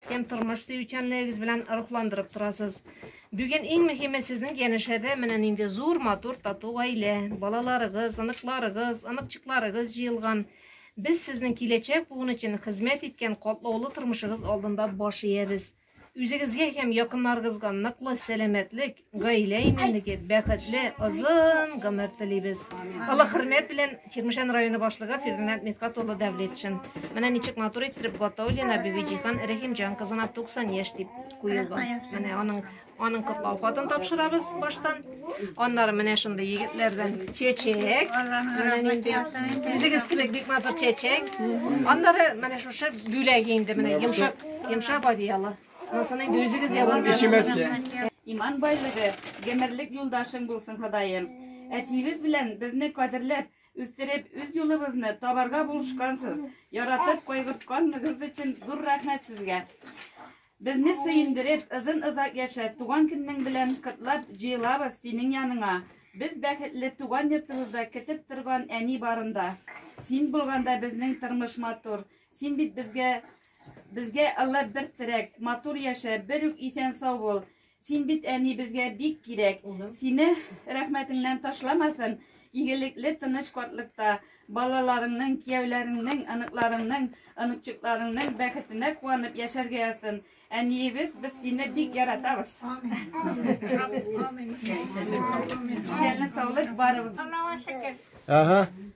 Һәм тормыш сөючәнлегегез белән рухландырып торасыз. Бүген иң мөһиме сезнең янәшәдә менә нинди зур, матур, тату гаилә. Балаларыгыз, оныкларыгыз, оныкчыкларыгыз җыелган. Без сезнең киләчәк буын өчен хезмәт иткән катлаулы тормышыгыз алдында баш иябез. Үзегезгә һәм якыннарыгызга ныклы сәламәтлек, Гаилә иминлеге, бәхетле, озын гомер телибез. Алла хөрмәт белән Чирмешән районы башлыгы Фердинанд Митхат улы Дәвлетшин. Менә ничек матур иттереп Батаулина Бибиҗихан Рәхимҗан кызына 90 яшь дип куелды. Менә аның аның котлау хатын тапшырабыз баштан. Аннары менә шундый егетләрдән чәчәк. Менә нинди үзегез кебек бик матур чәчәк. Аннары менә шушы бүләк инде менә йомшак йомшак одеяло. Алсаны инде үзегез ябар. Ишемәскә. Иман байлыгы, гомерлек юлдашың булсын, Ходаем. Әтиебез белән безне кадерләп, үстереп, үз юлыбызны табарга булышкансыз, яратып кайгыртканлыгыгыз өчен зур рәхмәт сезгә. Безне сөендереп, озын-озак яшә, туган көннең белән котлап җыелабыз синең яныңа. Без бәхетле туган йортыбызда көтеп торган әни барында. Син булганда безнең тормыш матур. Син бит безгә Безгә Алла бер терәк, матур яшә, бер үк исән сау бул. Син бит әни безгә бик кирәк. Сине рәхмәтеңнән ташламасын. Игелекле тыныч картлыкта балаларыңның, кияүләреңнең, оныкларыңның, оныкчыкларыңның бәхетенә куанып яшәргә язсын. Әниебез, без сине бик яратабыз. Исәнлек, саулык барыбыз. Ага.